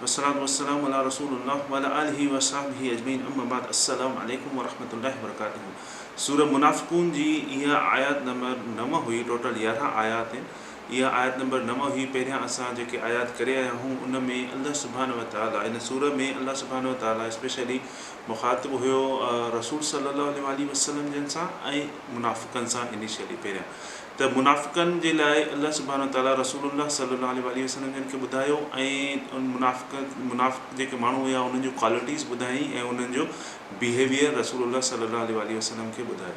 والصلوة والسلام علی رسول الله وعلی آله وصحبه اجمعين اما بعد السلام عليکم ورحمة الله وبرڪاته سورة منافقون جي اها آيات نمبر نو هئي ٽوٽل يارهن آيات آهن اها آيات نمبر نو هئي پهريان اسان جيڪي آيات ڪري آيا هون ان ۾ الله سبحانه وتعالي ان سورة ۾ الله سبحانه وتعالي اسپيشلي مخاطب هيو رسول صلي الله عليه وآله وسلم جن سان ۽ منافقن سان انيشلي پهريان ته منافقن جي لاء الله سبحانه وتعاليٰ رسول الله صلّي الله عليه واٰله وسلّم جن کي ٻڌايو ۽ منافق منافق جيڪي ماڻهو هيا انهن جون ڪوالٽيز ٻڌايائين ۽ انهن جو بيهيويئر رسول الله صلّي الله عليه واٰله وسلّم کي ٻڌايو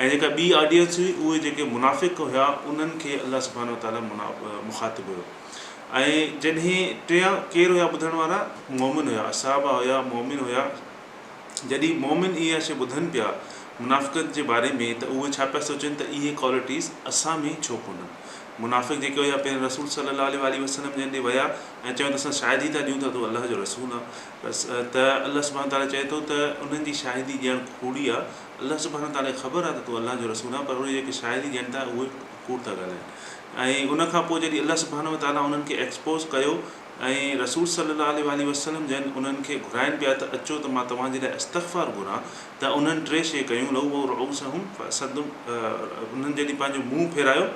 ۽ جيڪا ٻي آڊينس هئي اهي جيڪي منافق هيا انهن کي الله سبحانه وتعاليٰ منا مخاطب هيو ۽ جڏهن ٽيان ڪير هيا ٻڌڻ وارا مؤمن هيا صحابه هيا مؤمن هيا جڏهن مؤمن اها شيء ٻڌن پيا، منافقت جي باري ۾، ته اهي ڇا پيا سوچن ته اهي ڪوالٽيز اسان ۾ ڇو ڪونهن؟ منافق جيڪي هيا پهرين رسول صلّي اللّٰه عليه واٰله وسلّم جن ڏي ويا ۽ چيو ته اسان شاهدي ٿا ڏيون ته تون الله جو رسول آن ته الله سبحانه وتعالٰي چئي ٿو ته انهن جي شاهدي ڏيڻ ڪوڙي آ، الله سبحانه وتعالٰي کي خبر آ ته تون الله جو رسول آن پر اهي جيڪي شاهدي ڏين ٿا اهي ڪوڙ ٿا ڳالهائين ۽ ان کان پوء جڏهن الله سبحانه وتعالٰي انهن کي ايڪسپوز ڪيو ۽ رسول صلّي اللّٰه عليه واٰله وسلّم جن انهن کي گهرائن پيا ته اچو ته مان توهان جي لاء استغفار گهران ته انهن ٽي شي ڪيون، لوّوا رؤوسهم فاسدّوا انهن جڏهن پنهنجو منهن ڦيرايو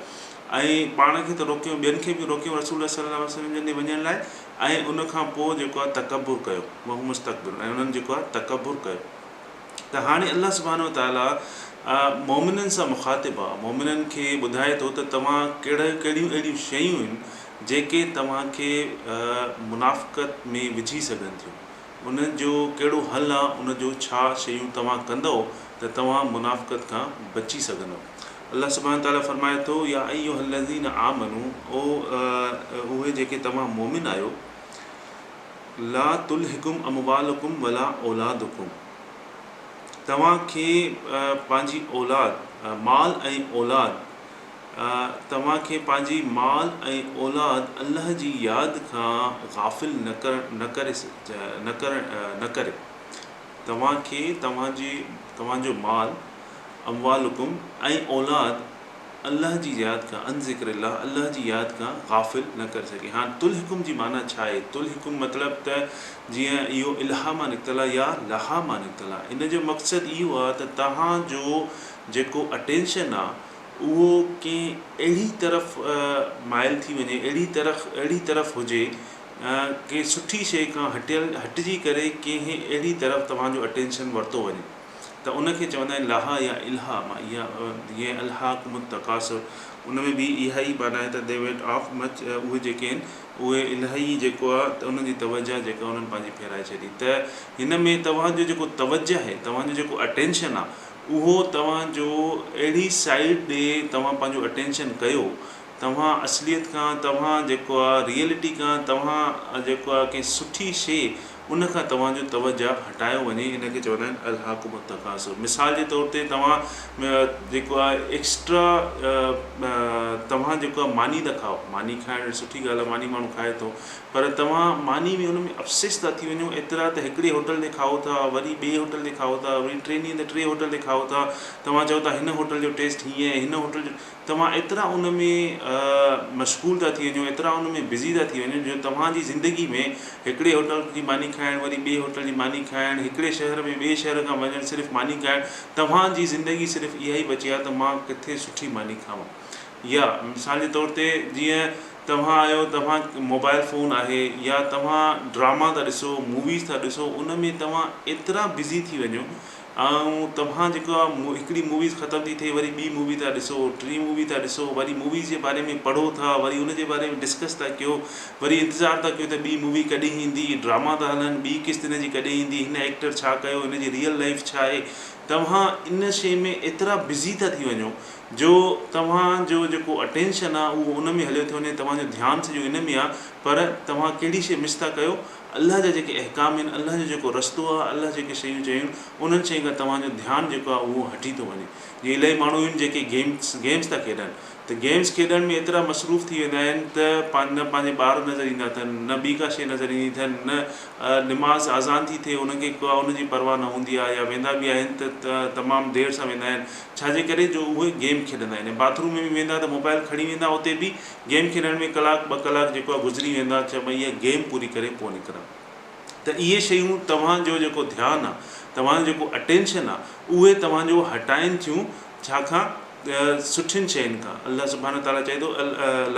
۽ پاڻ کي ته روڪيو ٻين کي به روڪيو رسول الله صلّي اللّٰه عليه وسلّم جن ڏي وڃڻ لاء ۽ ان کان پوء جيڪو آهي تڪبّر ڪيو وهم مستڪبرون ۽ انهن جيڪو آهي تڪبّر ڪيو ته هاڻي الله سبحانه وتعالٰي مؤمنن سان مخاطب آهي مؤمنن کي ٻڌائي ٿو ته توهان ڪهڙا ڪهڙيون اهڙيون شيون آهن جيڪي توهان کي منافقت ۾ وجهي سگهن ٿيون، ان جو ڪهڙو حل آ، ان جو ڇا شيون توهان ڪندؤ ته توهان منافقت کان بچي سگهندؤ. الله سبحانه وتعاليٰ فرمائي ٿو، يا ايها الذين آمنو، او اهي جيڪي توهان مؤمن آهيو، لا تلهڪم اموالڪم ولا اولادڪم، توهان کي پنهنجي اولاد، مال ۽ اولاد، توهان کي پنهنجي مال ۽ اولاد الله جي ياد کان غافل نه ڪري توهان کي توهان جو مال اموالڪم ۽ اولاد الله جي ياد کان عن ذڪر الله الله جي ياد کان غافل نه ڪري سگهي هاڻ تلهڪم جي معنيٰ ڇا آهي تلهڪم مطلب ته جيئن اهو الها مان نڪتل آهي يا لها مان نڪتل آهي ان جو مقصد اهو آهي ته توهان جو جيڪو اٽينشن آهي اهو ڪنهن اهڙي طرف مائل ٿي وڃي، اهڙي طرف اهڙي طرف هجي، ڪنهن سٺي شيء کان هٽيل هٽجي ڪري ڪنهن اهڙي طرف توهان جو اٽينشن ورتو وڃي ته ان کي چوندا آهن لاهه يا الهه مان اها جيئن الهاڪم التڪاثر ان ۾ به اها ئي معنيٰ آهي ته دي وينٽ آف مچ اهي جيڪي آهن اهي الهه ئي جيڪو آهي ته انهن جي توجهه جيڪا انهن پنهنجي ڦيرائي ڇڏي ته هن ۾ توهان جو جيڪو توجهه آهي توهان جو جيڪو اٽينشن آهي اهو توهان جو اهڙي سائيڊ ڏي توهان پنهنجو اٽينشن ڪيو توهان اصليت کان توهان جيڪو آ ريئلٽي کان توهان جيڪو آ ڪنهن سٺي شي ان کان توهان جو توجه هٽايو وڃي ان کي چوندا آهن الهاڪم التڪاثر مثال جي طور تي توهان جيڪو آ ايڪسٽرا توهان جيڪو آ ماني ٿا کائو ماني کائڻ سٺي ڳالهه آ ماني ماڻهو کائي ٿو پر توهان ماني ۾ ان ۾ افسيس ٿا ٿي وڃو ايترا ته هڪڙي هوٽل تي کائو ٿا وري ٻئي هوٽل تي کائو ٿا وري ٽي ڏينهن تي ٽي هوٽل تي کائو ٿا توهان چئو ٿا هن هوٽل جو ٽيسٽ هيئن آهي هن هوٽل جو توهان ايترا ان ۾ مشغول ٿا ٿي وڃو ايترا ان ۾ بزي ٿا ٿي وڃو جو توهان جي زندگي ۾ هڪڙي هوٽل جي ماني کائڻ وري ٻئي هوٽل جي ماني کائڻ هڪڙي شهر ۾ ٻئي شهر کان وڃڻ صرف ماني کائڻ توهان جي زندگي صرف اها ئي بچي آهي ته مان ڪٿي سٺي ماني کائون يا مثال جي طور تي جيئن توهان آهيو توهان موبائل فون آهي يا توهان ڊراما ٿا ڏسو موويز ٿا ڏسو ان ۾ توهان ايترا بزي ٿي وڃو ۽ توهان جيڪو آهي هڪڙي موويز ختم ٿي ٿئي وري ٻي مووي ٿا ڏسو ٽي مووي ٿا ڏسو وري موويز جي باري ۾ پڙهو ٿا وري ان جي باري ۾ ڊسڪس ٿا ڪيو وري انتظار ٿا ڪيو ته ٻي مووي ڪڏهن ايندي ڊراما ٿا هلن ٻي قسط ان جي ڪڏهن ايندي هن ايڪٽر ڇا ڪيو هن جي ريئل لائف ڇا آهي توهان ان شي ۾ ايترا بزي ٿا ٿي وڃو جو توهان جو جيڪو اٽينشن آ اهو ان ۾ هليو ٿو وڃي توهان جو ڌيان سڄو ان ۾ آ پر توهان ڪهڙي شئي مس ٿا ڪيو الله جا جيڪي احڪام آهن الله جو جيڪو رستو آ الله جيڪي شيون چيون آهن انهن شين کان توهان جو ڌيان جيڪو آ اهو هٽي ٿو وڃي جيئن الائي ماڻهو آهن جيڪي گيمس گيمس ٿا کيڏن ته گيمس کيڏڻ ۾ ايترا مصروف ٿي ويندا آهن ته پنهنجا نه پنهنجا ٻار نظر ايندا اٿن نه ٻي ڪا شئي نظر ايندي اٿن نه نماز آذان ٿي ٿئي انهن کي ڪا ان جي پرواهه نه هوندي آ يا ويندا به آهن ته تمام دير سان ويندا آهن ڇا جي ڪري جو اهي گيم کيڏندا آهن ۽ باٿ روم ۾ به ويندا ته موبائل کڻي ويندا اتي به گيم کيڏڻ ۾ ڪلاڪ ٻه ڪلاڪ جيڪو آهي گذري ويندا چي مان اها گيم پوري ڪري پوء نڪران ته اهي شيون توهان جو جيڪو ڌيان آهي توهان جو جيڪو اٽينشن آهي اهي توهان جو هٽائين ٿيون ڇا کان سٺين شين کان الله سبحانه تعالٰي چئي ٿو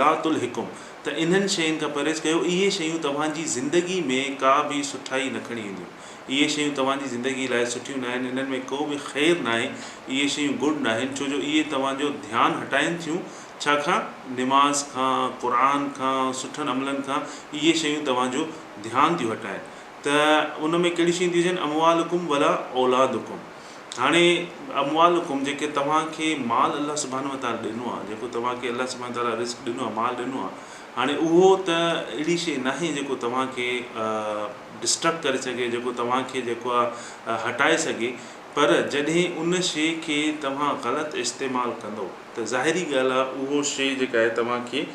لا تلهڪم ته انهن شين کان پرهيز ڪيو اهي شيون توهان جي زندگي ۾ ڪا به سٺائي نه کڻي اينديون اهي شيون توهان جي زندگيء لاء سٺيون ناهن، انهن ۾ ڪو به خير ناهي، اهي شيون گڊ ناهن، ڇو جو اهي توهان جو ڌيان هٽائين ٿيون، ڇا کان؟ نماز کان، قرآن کان، سٺن عملن کان، اهي شيون توهان جو ڌيان ٿيون هٽائين ته ان ۾ ڪهڙيون شيون ٿيون اچن اموالڪم ولا اولادڪم هاڻي اموالڪم جيڪي توهان کي مال الله سبحانه وتعالٰي ڏنو آهي، جيڪو توهان کي الله سبحانه وتعالٰي رزق ڏنو آهي، مال ڏنو آهي. هاڻي اهو ته اهڙي شيء ناهي جيڪو توهان کي Distract ڪري سگهي جيڪو توهان کي جيڪو آ هٽائي سگهي پر جڏهن ان شيء کي توهان غلط استعمال ڪندو ته ظاهري ڳالهه آ اهو شيء جيڪا آهي توهان کي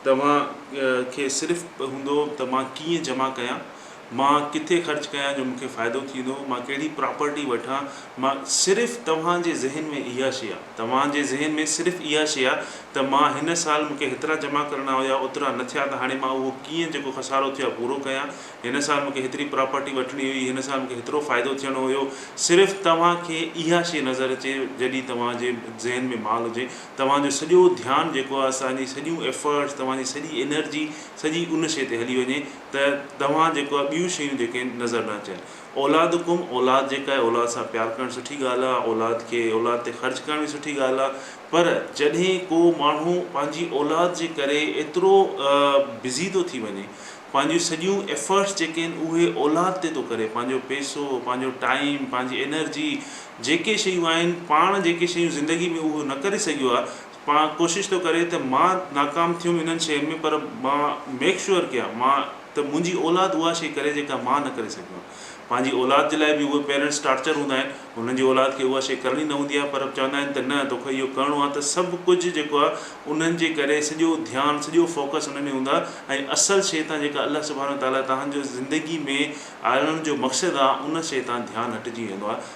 توهان کي صرف هوندو ته مان ڪيئن جمع ڪيان مان ڪٿي خرچ ڪيان جو مون کي فائدو ٿيندو، مان ڪهڙي پراپرٽي وٺان، مان صرف توهان جي ذهن ۾ اها شي آ، توهان جي ذهن ۾ صرف اها شي آ ته مان هن سال مون کي هيترا جمع ڪرڻا هيا اوترا نه ٿيا ته هاڻي مان اهو ڪيئن جيڪو خسارو ٿيو آ پورو ڪيان، هن سال مون کي هيتري پراپرٽي وٺڻي هئي، هن سال مون کي هيترو فائدو ٿيڻو هيو، صرف توهان کي اها شي نظر اچي جڏهن توهان جي ذهن ۾ مال هجي توهان جو سڄو ڌيان جيڪو آ توهان جي سڄيون ايفرٽس توهان جي سڄي انرجي سڄي ان شي تي هلي وڃي، ته توهان جيڪو آهي ٻيون شيون جيڪي آهن نظر نه اچن اولادڪم اولاد جيڪا آهي اولاد سان پيار ڪرڻ سٺي ڳالهه آهي اولاد کي اولاد تي خرچ ڪرڻ به سٺي ڳالهه آهي پر جڏهن ڪو ماڻهو پنهنجي اولاد جي ڪري ايترو بزي ٿو ٿي وڃي پنهنجيون سڄيون ايفرٽس جيڪي آهن اهي اولاد تي ٿو ڪري پنهنجو پيسو پنهنجو ٽائيم پنهنجي انرجي جيڪي شيون آهن پاڻ جيڪي شيون زندگي ۾ اهو نه ڪري سگهيو آهي پاڻ ڪوشش ٿو ڪري ته مان ناڪام ٿيم انهن شين ۾ پر مان ميڪ شوئر ڪيان مان ته منهنجي اولاد اها شي ڪري جيڪا مان نه ڪري سگهيو آهيان پنهنجي اولاد جي لاء به اهي پيرنٽس ٽارچر هوندا آهن هنن جي اولاد کي اها شي ڪرڻي نه هوندي آهي پر چوندا آهن ته نه توکي اهو ڪرڻو آهي ته سڀ ڪجهه جيڪو آهي انهن جي ڪري سڄو ڌيان سڄو فوڪس انهن ۾ هوندو آهي ۽ اصل شي تان جيڪا الله سبحانه وتعالٰي توهان جو زندگي ۾ آڻڻ جو مقصد آهي ان شي تان ڌيان هٽجي ويندو آهي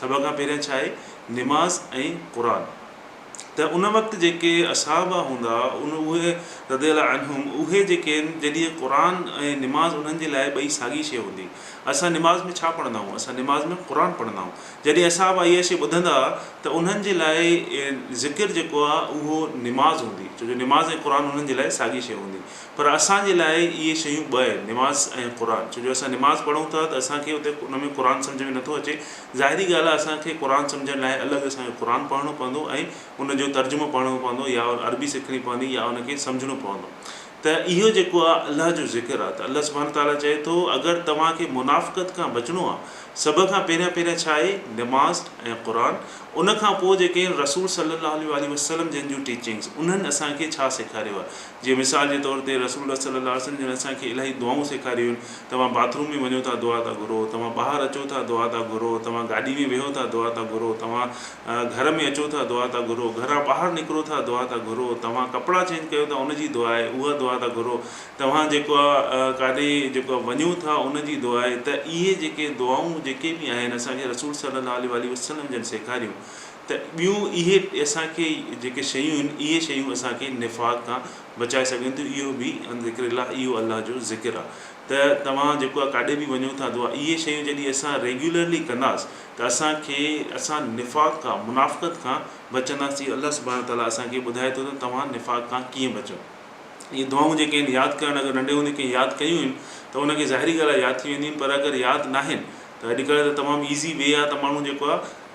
سڀ کان پهريان ڇا آهي نماز ۽ قرآن ته ان وقت جيڪي اصحابه هوندا ان اهي رضي الله عنهم اهي جيڪي آهن جڏهن قرآن ۽ نماز انهن جي لاء ٻئي ساڳي شيء هوندي اسان نماز ۾ ڇا پڙهندا آهيون اسان نماز ۾ قرآن پڙهندا آهيون جڏهن اصحابه اها شيء ٻڌندا ته انهن جي لاء ذڪر جيڪو آهي اهو نماز هوندي ڇو جو نماز ۽ قرآن انهن جي لاء ساڳي شيء هوندي پر اسان جي لاء اهي شيون ٻه آهن، نماز ۽ قرآن، ڇو جو اسان نماز پڙهون ٿا ته اسان کي اتي ان ۾ قرآن سمجهه ۾ نٿو اچي، ظاهري ڳالهه آهي اسان کي قرآن سمجهڻ لاء الڳ اسان کي قرآن پڙهڻو پوندو ۽ ان جو ترجمو پڙهڻو پوندو يا عربي سکڻي پوندي يا ان کي سمجهڻو پوندو ته اهو جيڪو آهي الله جو ذڪر آهي ته الله سبحانه تعاليٰ چئي ٿو اگر توهان کي منافقت کان بچڻو آهي سڀ کان پهريان پهريان ڇا آهي نماز ۽ قرآن ان کان پوء جيڪي آهن رسول صلي الله عليه وآله وسلم جن جون ٽيچنگس انهن اسان کي ڇا سيکاريو آهي جيئن مثال جي طور تي رسول الله صلي الله عليه وسلم جن اسان کي الاهي دعائون سيکاريون آهن، توهان باٿ روم ۾ وڃو ٿا دعا ٿا گهرو، توهان ٻاهر اچو ٿا دعا ٿا گهرو، توهان گاڏي ۾ ويهو ٿا دعا ٿا گهرو، توهان گهر ۾ اچو ٿا دعا ٿا گهرو، گهران ٻاهر نڪرو ٿا دعا ٿا گهرو، توهان ڪپڙا چينج ڪيو ٿا ان جي دعا آهي اها دعا ٿا گهرو، توهان جيڪو آ ڪاڏي جيڪو آ وڃو ٿا ان جي دعا آهي ته اهي جيڪي دعائون جيڪي به آهن اسان کي رسول صلي الله عليه واٰله وسلم جن سيکاريون. ته ٻيون اهي اسان کي جيڪي شيون آهن اهي شيون اسان کي نفاق کان بچائي سگهن ٿيون اهو به ان ذڪر الله اهو الله جو ذڪر آهي ته توهان جيڪو آهي ڪاڏي به وڃو ٿا دعا اهي شيون جڏهن اسان ريگيولرلي ڪنداس ته اسان کي اسان نفاق کان منافقت کان بچنداس جي الله سبحانه وتعالٰي اسان کي ٻڌائي ٿو ته توهان نفاق کان ڪيئن بچو اهي دعائون جيڪي آهن ياد ڪرڻ اگر ننڍي هوندي ڪنهن ياد ڪيون آهن ته ان کي ظاهري ڳالهه آهي ياد ٿي وينديون آهن پر اگر ياد ناهن ته اڄڪلهه ته تمام ايزي وي آهي ته ماڻهو جيڪو آهي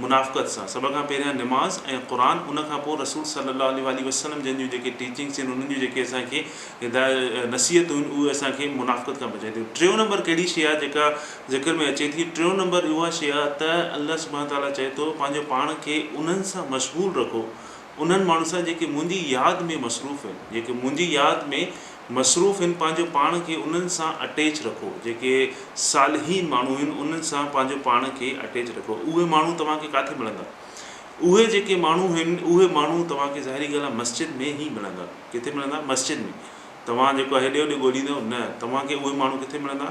منافقت سان سڀ کان پهريان نماز ۽ قرآن ان کان پوء رسول صلي الله عليه واٰله وسلم جن جون جيڪي ٽيچنگس آهن انهن جون جيڪي اسان کي هدايت نصيحتون آهن اهي اسان کي منافقت کان بچائي ٿيون ٽيون نمبر ڪهڙي شيء آهي جيڪا ذڪر ۾ اچي ٿي ٽيون نمبر اها شيء آهي ته الله سبحانه تعالٰي چئي ٿو پنهنجو پاڻ کي انهن سان مشغول رکو انهن ماڻهن سان جيڪي منهنجي ياد ۾ مصروف آهن جيڪي منهنجي ياد ۾ مصروف آهن پنهنجو پاڻ کي انهن سان اٽيچ رکو جيڪي صالحين ماڻهو آهن انهن سان پنهنجو پاڻ کي اٽيچ رکو اهي ماڻهو توهان کي ڪاٿي ملندا اهي جيڪي ماڻهو آهن اهي ماڻهو توهان کي ظاهري ڳالهه آهي مسجد ۾ ئي ملندا ڪٿي ملندا مسجد ۾ توهان جيڪو آهي هيڏي هوڏي ڳوليندو نه توهان کي اهي ماڻهو ڪٿي ملندا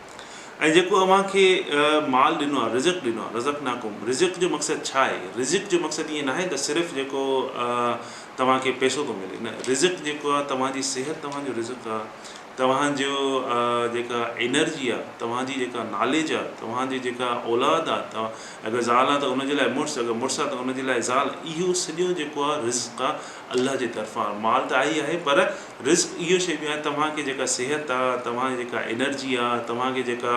۽ جيڪو اوهان کي مال ڏنو آهي، رزق ڏنو آهي، رزقناڪم، رزق جو مقصد ڇا آهي؟ رزق جو مقصد ائين ناهي ته صرف جيڪو توهان کي پئسو ٿو ملي، نه، رزق جيڪو آهي توهان جي صحت توهان جو رزق آهي، توهان جو جيڪا انرجي آهي، توهان جي جيڪا ناليج آهي، توهان جي جيڪا اولاد آهي، اگر زال آهي ته ان جي لاء مڙس، اگر مڙس آهي ته ان جي لاء زال، اهو سڄو جيڪو آهي رزق آهي الله جي طرفان، مال ته آهي ئي آهي پر رزق اهو شيء آهي توهان کي جيڪا صحت آ، توهان جي جيڪا انرجي آ، توهان کي جيڪا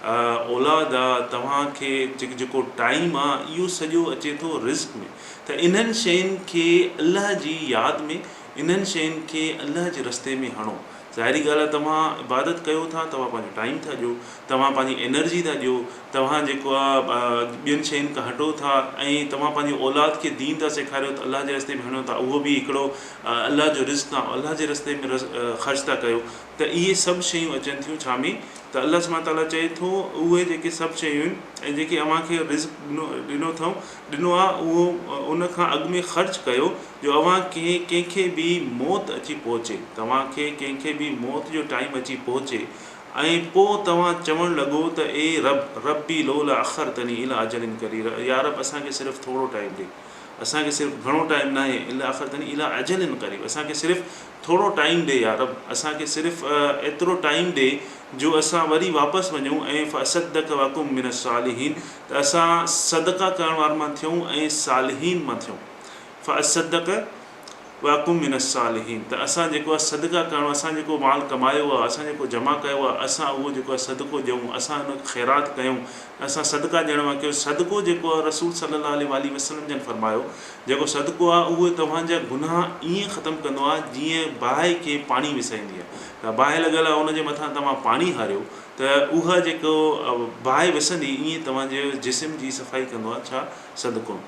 اولاد آ، توهان کي جيڪو ٽائيم آ اهو سڄو اچي ٿو رزق ۾ ته انهن شين کي الله جي ياد ۾ انهن شين کي الله جي رستي ۾ هڻو ظاهري ڳالهه آ توهان عبادت ڪيو ٿا توهان پنهنجو ٽائيم ٿا ڏيو توهان پنهنجي انرجي ٿا ڏيو توهان جيڪو آ ٻين شين کان هٽو ٿا ۽ توهان پنهنجي اولاد کي دين ٿا سيکاريو ته الله جي رستي ۾ هڻيو ٿا اهو به هڪڙو الله جو رزق تان الله جي رستي ۾ خرچ ٿا ڪيو ته اهي سڀ شيون اچن ٿيون ڇا ۾ ته الله سبحانه تعالٰي چئي ٿو اهي جيڪي سڀ شيون آهن ۽ جيڪي اوهان کي رزق ڏنو ڏنو اٿئون ڏنو آهي اهو ان کان اڳ ۾ خرچ ڪيو جو اوهان کي ڪنهن کي به موت اچي پهچي توهان کي ڪنهن کي به موت جو ٽائيم اچي پهچي ۽ پوء توهان چوڻ لڳو ته اي رب ربي لولا اخرتني الي اجل قرير يا رب اسان کي صرف ٿورو ٽائيم ڏي. اسان کي صرف گهڻو ٽائيم ناهي الا آخر تني اليٰ اجل قريب اسان کي صرف ٿورو ٽائيم ڏي يا رب اسان کي صرف ايترو ٽائيم ڏي جو اسان وري واپس وڃون ۽ فاصدق واڪم من الصالحين ته اسان صدقه ڪرڻ وارن مان ٿيون ۽ صالحين مان ٿيون فاصدق واڪم من الصالحين ته اسان جيڪو آهي صدقه ڪرڻو اسان جيڪو مال ڪمايو آهي اسان جيڪو جمع ڪيو آهي اسان اهو جيڪو آهي صدقو ڏيون اسان ان خيرات ڪيون اسان صدقه ڏيڻ وارن ڪيون صدقو جيڪو آهي رسول صلي الله عليه واٰله وسلم جن فرمايو جيڪو صدقو آهي اهو توهان جا گناهه ائين ختم ڪندو آهي جيئن باهه کي پاڻي وسائيندي آهي ته باهه لڳل آهي ان جي مٿان توهان پاڻي هاريو ته اها جيڪو باهه وسندي ائين توهان جي جسم جي صفائي ڪندو آهي ڇا صدقو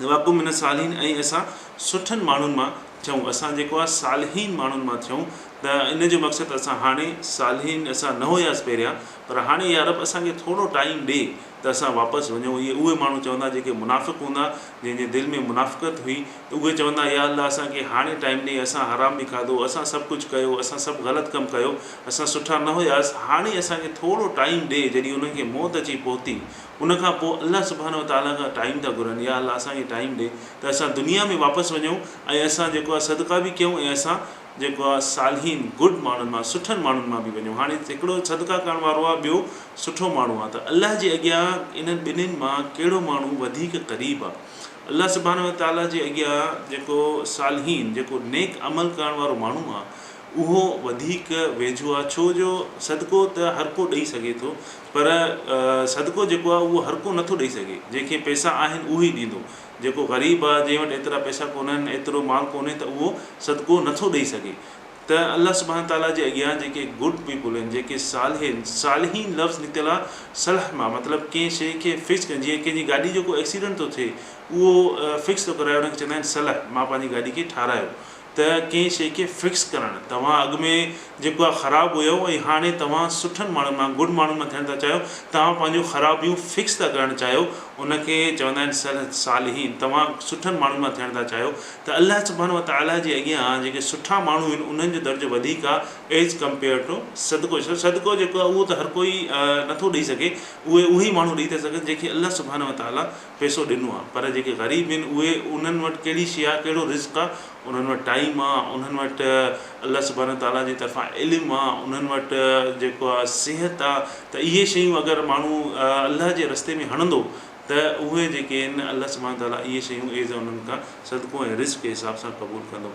واقعو من الصالحين ۽ اسان سٺن ماڻهن مان ٿيون اسان جيڪو آهي صالحين ماڻهن مان ٿيون ته ان جو مقصد اسان هاڻي صالحين اسان نه هياس پهريان پر هاڻي يارب اسان کي ٿورو ٽائيم ڏي ته اسان واپس وڃون اهي اهي ماڻهو چوندا جيڪي منافق هوندا جنهن جي دل ۾ منافقت هئي اهي چوندا يا الله اسان کي هاڻي ٽائيم ڏي اسان حرام به کاڌو اسان سڀ ڪجهه ڪيو اسان سڀ غلط ڪم ڪيو اسان سٺا نه هياس هاڻي اسان کي ٿورو ٽائيم ڏي جڏهن انهن کي موت اچي پهتي ان کان پوء الله سبحانه وتعاليٰ کان ٽائيم ٿا گهرن، يا الله اسان کي ٽائيم ڏي ته اسان دنيا ۾ واپس وڃون ۽ اسان جيڪو آهي صدقا به ڪيون ۽ اسان جيڪو آهي صالحين، گڊ، ماڻهن مان، سٺن ماڻهن مان، به وڃون. هاڻي هڪڙو صدقا ڪرڻ وارو آهي ٻيو سٺو ماڻهو آهي ته الله جي اڳيان انهن ٻنهين مان ڪهڙو ماڻهو وڌيڪ قريب آهي؟ الله سبحانه وتعاليٰ جي اڳيان جيڪو صالحين، جيڪو نيڪ عمل ڪرڻ وارو ماڻهو آهي اهو وڌيڪ ويجهو آهي ڇو جو صدقو ته هر ڪو ڏئي سگهي ٿو. پر صدقو جيڪو آهي اهو هر ڪو نٿو ڏئي سگهي. جنهن کي پئسا آهن اهو ئي ڏيندو. جيڪو غريب آهي جنهن وٽ ايترا پئسا ڪونهن، ايترو مال ڪونهي ته اهو صدقو نٿو ڏئي سگهي. ته الله سبحانه وتعاليٰ جي اڳيان جيڪي گڊ پيپل هن، جيڪي صالح هن، صالحين لفظ نڪتل آهي صلح مان مطلب ڪنهن شيء کي فڪس ڪرڻ جيئن ڪنهن جي گاڏي جو ڪو ايڪسيڊنٽ ٿو ٿئي اهو فڪس ٿو ڪرائي ان کي چوندا آهن صلح مان پنهنجي گاڏي کي ٺارايو ته ڪنهن شيء کي فڪس ڪرڻ، توهان اڳ ۾ جيڪو آهي خراب هيو ۽ هاڻي توهان سٺن ماڻهن مان گڊ ماڻهن مان ٿيڻ ٿا چاهيو، توهان پنهنجون خرابيون فڪس ٿا ڪرڻ چاهيو، ان کي چوندا آهن صلح صالحين، توهان سٺن ماڻهن مان ٿيڻ ٿا چاهيو ته الله سبحانه وتعاليٰ جي اڳيان جيڪي سٺا ماڻهو آهن انهن جو درجو وڌيڪ آهي As Compared To صدقو ڇو صدقو جيڪو آهي اهو ته هر ڪوئي نٿو ڏئي سگهي اهي اهي ماڻهو ڏئي ٿا سگهن جنهن کي الله سبحانه وتعاليٰ پئسو ڏنو آ پر جيڪي غريب ھين اھي انھن وٽ ڪھڙي شيء آ ڪھڙو رزق آ انھن وٽ ٽائيم آ انھن وٽ الله سبحانه تعالي جي طرفان علم آ انھن وٽ جيڪو آ صحت آ ته اھي شيون اگر ماڻھو الله جي رستي ۾ ھڻندو ته اھي جيڪي ھين الله سبحانه تعالي اھي شيون عيذ انھن کان صدقو ۽ رزق جي حساب سان قبول ڪندو.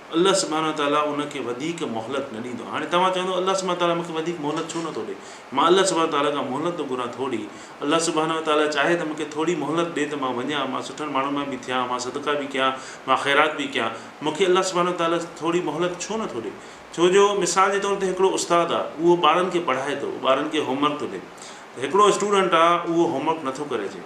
الله سبحانه وتعاليٰ ان کي وڌيڪ مهلت نه ڏيندو. هاڻي توهان چوندؤ الله سبحانه وتعاليٰ مون کي وڌيڪ مهلت ڇو نه ٿو ڏي؟ مان الله سبحانه وتعاليٰ کان مهلت ٿو گهران ٿوري. الله سبحانه وتعاليٰ چاهي ته مون کي ٿوري مهلت ڏي ته مان وڃان، مان سٺن ماڻهن مان به ٿيان، مان صدقا به ڪيان، مان خيرات به ڪيان. مون کي الله سبحانه وتعاليٰ ٿوري مهلت ڇو نه ٿو ڏي؟ ڇو جو مثال جي طور تي هڪڙو استاد آ، اهو ٻارن کي پڙهائي ٿو، ٻارن کي هوم ورڪ ٿو ڏي. ته هڪڙو اسٽوڊنٽ آ، اهو هوم ورڪ نه ٿو ڪري اچي.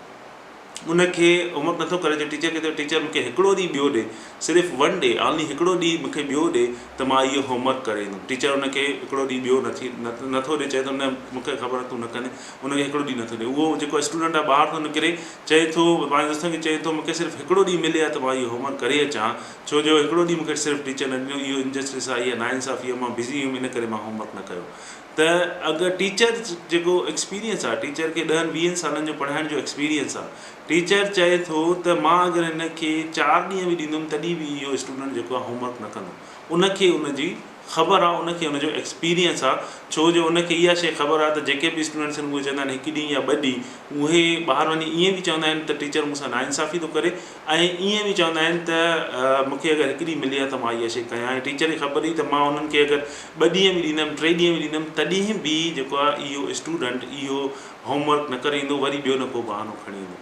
ان کي امر نٿو ڪري جو ٽيچر کي چئي ٽيچر مون کي هڪڙو ڏينهن ٻيو ڏي صرف ون ڊي آنلي هڪڙو ڏينهن مون کي ٻيو ڏي ته مان اهو هوم ورڪ ڪري ايندم ٽيچر ان کي هڪڙو ڏينهن ٻيو نٿي نٿو ڏي چئي ٿو نه مون کي خبر آهي تون نه ڪندين ان کي هڪڙو ڏينهن نٿو ڏي اهو جيڪو اسٽوڊنٽ آهي ٻاهر ٿو نڪري چئي ٿو پنهنجي دوستن کي چئي ٿو مون کي صرف هڪڙو ڏينهن ملي ته مان اهو هوم ورڪ ڪري اچان ها ڇو جو هڪڙو ڏينهن مون کي صرف ٽيچر نه ڏنو اهو انجسٽس آهي اهو ناانصافي آهي مان بزي هيم ان ڪري مان هوم ورڪ نه ڪيو ته اگر ٽيچر جيڪو ايڪسپيرينس آهي ٽيچر کي ڏهن ويهن سالن جو پڙهائڻ جو ايڪسپيرينس آهي ٽيچر چئي ٿو ته مان اگر هن کي چار ڏينهن به ڏيندم تڏهن به اهو اسٽوڊنٽ جيڪو آهي هوم ورڪ نه ڪندو ان کي ان جي خبر آهي ان کي ان جو ايڪسپيرينس آهي ڇو جو ان کي اها شيء خبر آهي ته جيڪي به اسٽوڊنٽس آهن اهي چوندا آهن هڪ ڏينهن يا ٻه ڏينهن اهي ٻاهر وڃي ائين به چوندا آهن ته ٽيچر مون سان ناانصافي ٿو ڪري ۽ ائين به چوندا آهن ته مون کي اگر هڪ ڏينهن ملي ها ته مان اها شي ڪيان ها ۽ ٽيچر کي خبر هئي ته مان انهن کي اگر ٻه ڏينهن به ڏيندم ٽي ڏينهن به ڏيندم تڏهن به جيڪو آهي اهو اسٽوڊنٽ اهو هوم ورڪ نه ڪري ايندو وري ٻيو نه ڪو بهانو کڻي ايندو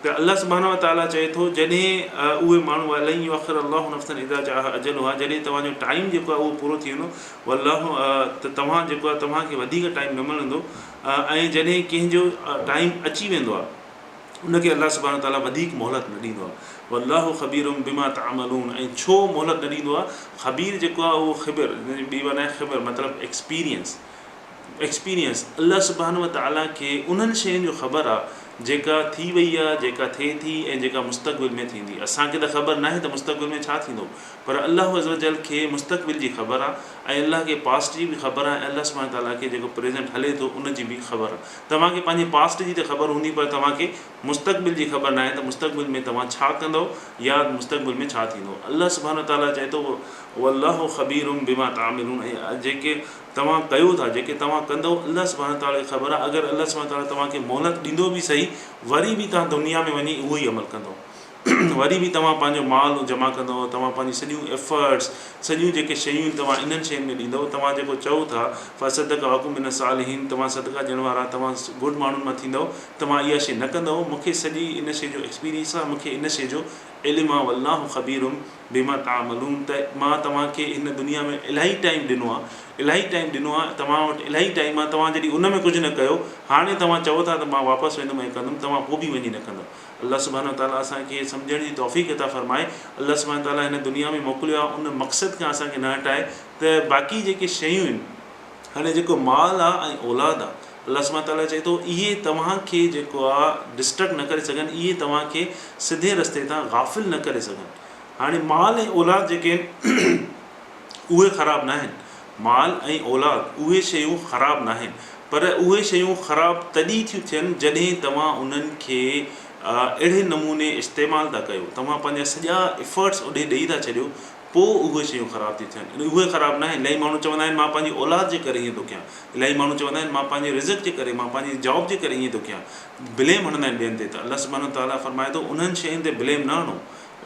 ته الله سبحانه وتعالٰي چئي ٿو جڏهن اهي ماڻهو ولن يؤخر الله نفسا اذا جاء اجلها جڏهن توهان جو ٽائيم جيڪو آهي اهو پورو ٿي ويندو والله ته توهان جيڪو آهي توهان کي وڌيڪ ٽائيم نه ملندو ۽ جڏهن ڪنهن جو ٽائيم اچي ويندو آهي ان کي الله سبحانه وتعاليٰ وڌيڪ مهلت نه ڏيندو آهي والله خبير بما تعملون ۽ ڇو مهلت نه ڏيندو آهي خبير جيڪو آهي اهو خبر جنهن جي ٻي معنيٰ خبر مطلب ايڪسپيرينس ايڪسپيرينس الله سبحانه وتعاليٰ کي انهن شين جو خبر آهي جيڪا ٿي وئي آهي جيڪا ٿئي ٿي ۽ جيڪا مستقبل ۾ ٿيندي اسان کي ته خبر ناهي ته مستقبل ۾ ڇا ٿيندو پر الله عزّوجلّ کي مستقبل جي خبر آهي ۽ الله کي پاسٽ جي به خبر آهي ۽ الله سبحانه وتعاليٰ کي جيڪو پريزنٽ هلي ٿو ان جي به خبر آهي توهان کي پنهنجي پاسٽ جي ته خبر هوندي پر توهان کي مستقبل جي خبر ناهي ته مستقبل ۾ توهان ڇا ڪندؤ يا مستقبل ۾ ڇا ٿيندو الله سبحانه وتعاليٰ چئي ٿو والله خبير بما تعملون ۽ جيڪي توهان ڪيو ٿا جيڪي توهان ڪندؤ الله سبحانه وتعاليٰ کي خبر آهي اگر الله سبحانه وتعاليٰ توهان کي مهلت ڏيندو به صحيح وري به توهان دنيا ۾ وڃي اهو ئي عمل ڪندؤ وري به توهان پنهنجو مال جمع ڪندؤ توهان پنهنجي سڄيون ايفرٽس سڄيون جيڪي شيون آهن توهان انهن شين ۾ ڏيندؤ توهان جيڪو چئو ٿا فصدق اهو ڪم من الصالحين توهان صدقه ڏيڻ وارا توهان گڊ ماڻهن مان ٿيندؤ توهان اها شي نه ڪندؤ مون کي سڄي ان شي جو ايڪسپيرينس آهي مون کي ان شي جو علم آهي والله خبير بما تعملون ته مان توهان کي هن دنيا ۾ الاهي ٽائيم ڏنو آهي الاهي ٽائيم ڏنو آهي توهان وٽ الاهي ٽائيم آهي توهان جڏهن ان ۾ ڪجهه نه ڪيو هاڻي توهان چئو ٿا ته مان واپس ويندم ۽ ڪندم توهان پوء به وڃي نه ڪندؤ الله سبحانه وتعاليٰ اسان کي سمجهڻ جي توفيق عطا فرمائي الله سبحانه وتعاليٰ هن دنيا ۾ موڪليو آهي ان مقصد کان اسان کي نه هٽائي ته باقي جيڪي شيون آهن هاڻي جيڪو مال آهي ۽ اولاد آهي الله سبحانه وتعاليٰ چئي ٿو اهي توهان کي جيڪو آهي ڊسٽرڪٽ نه ڪري سگهن اهي توهان کي سڌي رستي تان غافل نه ڪري سگهن هاڻي مال ۽ اولاد جيڪي آهن اهي خراب ناهن، مال ۽ اولاد اهي شيون خراب ناهن، پر اهي شيون خراب تڏهن ٿيون ٿين جڏهن توهان انهن کي اهڙي نموني استعمال ٿا ڪيو، توهان پنهنجا سڄا Efforts اوڏي ڏئي ٿا ڇڏيو، پوء اهي شيون خراب ٿيون ٿين. اهي خراب ناهن، الائي ماڻهو چوندا آهن مان پنهنجي اولاد جي ڪري ائين ٿو ڪيان، الائي ماڻهو چوندا آهن مان پنهنجي رزق جي ڪري، مان پنهنجي Job جي ڪري ائين ٿو ڪيان، Blame هڻندا آهن ٻين تي ته الله سبحانه وتعاليٰ فرمائي ٿو انهن شين تي Blame نه هڻو،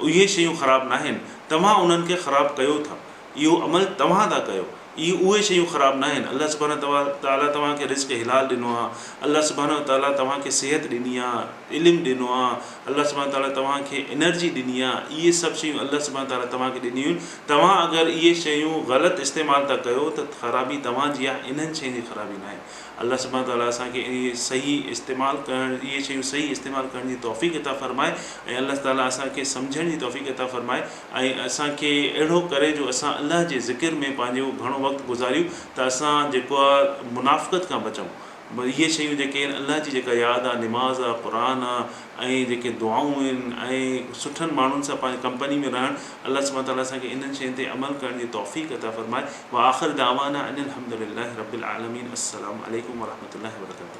اهي شيون خراب ناهن، توهان انهن کي خراب ڪيو ٿا. اهو عمل توهان ٿا ڪيو. اهي اهي شيون خراب ناهن. الله سبحانه وتعاليٰ توهان کي رزق حلال ڏنو آهي. الله سبحانه وتعاليٰ توهان کي صحت ڏني آهي، علم ڏنو آهي. الله سبحانه وتعاليٰ توهان کي انرجي ڏني آهي. اهي سڀ شيون الله سبحانه وتعاليٰ توهان کي ڏنيون آهن. توهان اگر اهي شيون غلط استعمال ٿا ڪيو ته خرابي توهان جي آهي، انهن شين جي خرابي ناهي. الله سبحانه تعاليٰ اسان کي انهي صحيح استعمال ڪرڻ اهي شيون صحيح استعمال ڪرڻ جي توفيق عطا فرمائي ۽ الله تعاليٰ اسان کي سمجهڻ جي توفيق عطا فرمائي ۽ اسان کي اهڙو ڪري جو اسان الله جي ذڪر ۾ پنهنجو گهڻو وقت گذاريون ته اسان جيڪو آ منافقت کان بچون اهي شيون جيڪي آهن الله جي جيڪا ياد آ نماز آ قرآن آ ۽ جيڪي دعائون آهن ۽ سٺن ماڻهن سان پنهنجي ڪمپني ۾ رهڻ الله سبحانه وتعاليٰ اسان کي انهن شين تي عمل ڪرڻ جي توفيق عطا فرمائي واخر دعوانا ان الحمد لله رب العالمين السلام عليڪم ورحمة الله وبرڪاته.